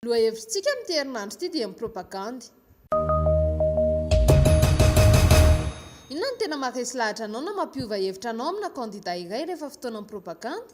Lohahevitrintsika amin'ity herinandro ity dia ny propagandy. Inona no tena maharesy lahatra anao na mampiova hevitra anao amina kandida iray rehefa fotoanan'ny propagandy?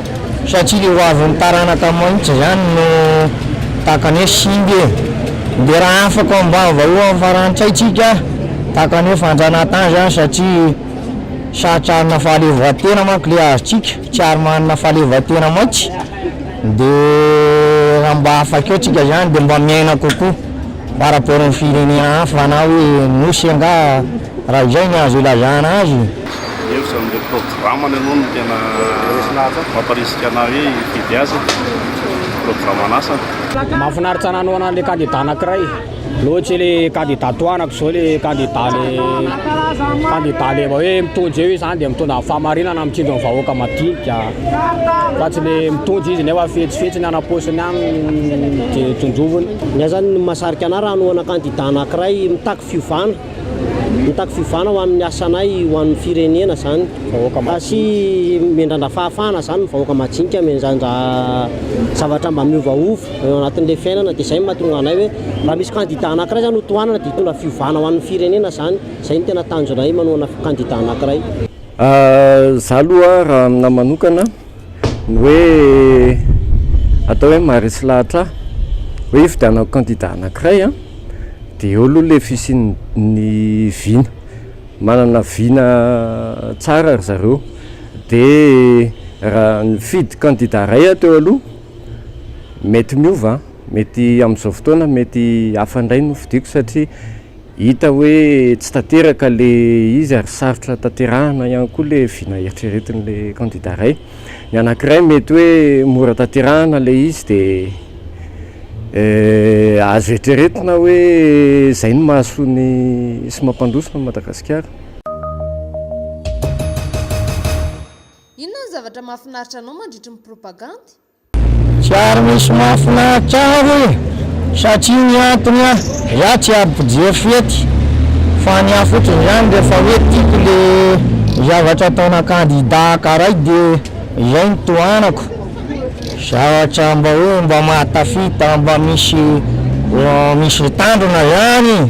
Satria le ho avin'ny taranaka maitso zany no takany hoe simba e! De raha afaka ao ambany vahohon'ny farantsay tsika takany hoe fanjanahantany zany satria sarotra hanana fahaleovantena manko le azontsika, tsy ary manana fahaleovantena maitsy de raha mba afaka eo tsika zany de mba miaina kokoa par rapport amin'ny firenena hafa na hoe nosy angaha. Raha izay ny azo ilazana azy. Eo izany ilay programany aloha no tena mamparisika anah hoe hifidy azy e, programan'asany. Mahafinaritra nanohana an'ilay kandida anankiray loatra ilay kandida tohanako izao, ilay kandida le kandida le hoe mitondra eo izy izany dia mitondra ny fahamarinana mitsinjo ny vahoaka madinika fa tsy ilay mitondra izy nefa fetsifetsy ny any am-paosiny any dia tondroviny. Ny ahy izany ny mahasarika anah raha hanohana kandida anankiray mitaky fiovana Mitaky fiovana ho amin'ny asanay ho an'ny firenena izany vahoaka madinika. Sy miandrandra fahafahana izany ny vahoaka madinika miandrandra zavatra mba miovaova eo anatin'ilay fiainana dia izay no mahatonga anay hoe raha misy kandida anakiray izany ho tohanana dia hitondra fiovana ho an'ny firenena izany. Izay no tena tanjonay manohana kandida anakiray. Izaho aloha raha aminahy manokana. ny hoe atao hoe maharesy lahatra ahy hoe hifidianako candidat anankiray an, dia eo aloha ilay fisian'ny vina, manana vina tsara ry zareo, dia raha nifidy candidat iray aho teo aloha, mety miova an, mety amin'izao fotoana mety hafa indray no fidiako satria. Hita hoe tsy tanteraka le izy ary sarotra tanterahina ihany koa le vina eritreretin le kandida ray. Ny anakiray mety hoe mora tanterahina le izy de azo eritreretina hoe zay no mahasoa ny sy mampandroso ny Madagasikara. Inona ny zavatra mahafinaritra anao mandritry ny propagandy? Tsy ary misy mahafinaritra ahy hoe satria ny antony an, iah tsy ary mpijery fety fa ny ahy fotsiny izany rehefa hoe tiako le zavatra ataona kandida akaray de izay no tohanako, zavatra mba hoe mba mahatafita mba misy misy tandrona ihany.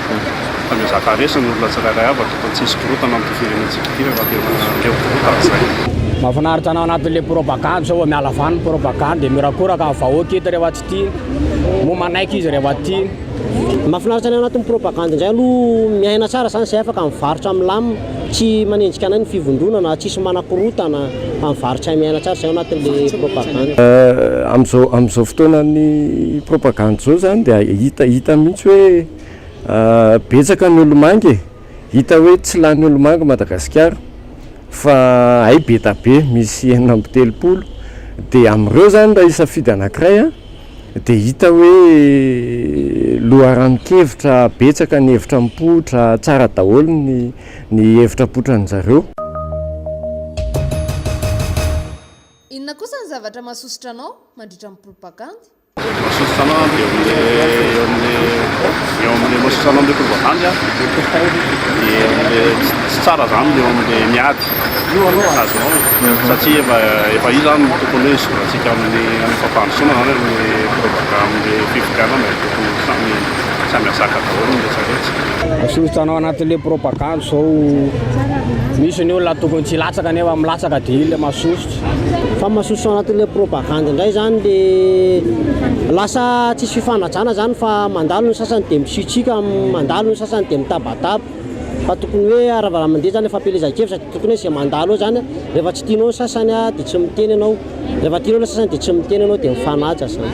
Ho mpanezaka resy ny olona tsirairay avy, tokony tsy hisy korontana amin'ity firenentsika ity rehefa tena leo korontana izay. Mahafinaritra anao anatin'ilay propagandy zao vao miala vany ny propagandy e! Mirakoraka ny vahoaka eto rehefa tsy tia, moa manaiky izy rehefa tia. Mahafinaritra ny ao anatin'ny propagandy indray aloha miaina tsara izany izay afaka mivarotra milamina. Tsy manenjika anay ny fivondronana ary tsisy manakorontana amin'ny varotra miaina tsara izay ao anatin'ilay propagandy. Amin'izao amin'izao fotoanan'ny propagandy izao izany dia hita hita mihitsy hoe betsaka ny olo-mangy e! Hita hoe tsy lany olo-mangy Madagasikara fa hay be tabe misy enina amby telopolo dia amin'ireo izany raha hisafidy anankiray a! Dia hita hoe loharanon-kevitra betsaka ny hevitra mipoitra, tsara daholo ny ny hevitra apotran'ny zareo. Inona kosa ny zavatra mahasosotra anao mandritra ny propagandy? Mahasosotra anao dia eo amin'ny eo amin'ny mahasosotra anao amin'ny propagandy dia ny tsy tsara izany ny eo amin'ny miady. Io aloha raha azonao e, satria efa efa io zany no tokony hoe izorantsika amin'ny amin'ny fampandrosoana zany amin'ny programme fifidianana e, tokony samy samy azaka daholo ny retraretra. Asoritanao anatin le propagande zao misy ny olona tokony tsy hilatsaka nefa milatsaka de iny le masosotra. Fa masosotra anatin le propagande ndray zany le lasa tsisy fifanajana zany fa mandalo ny sasany de misitrika mandalo ny sasany de mitabataba. Fa tokony hoe raha raha mandeha zany fampielezan-kevitra de tokony hoe zay mandalo eo zany rehefa tsy tianao ny sasany a de tsy miteny ianao, rehefa tianao le sasany de tsy miteny ianao de mifanaja zany.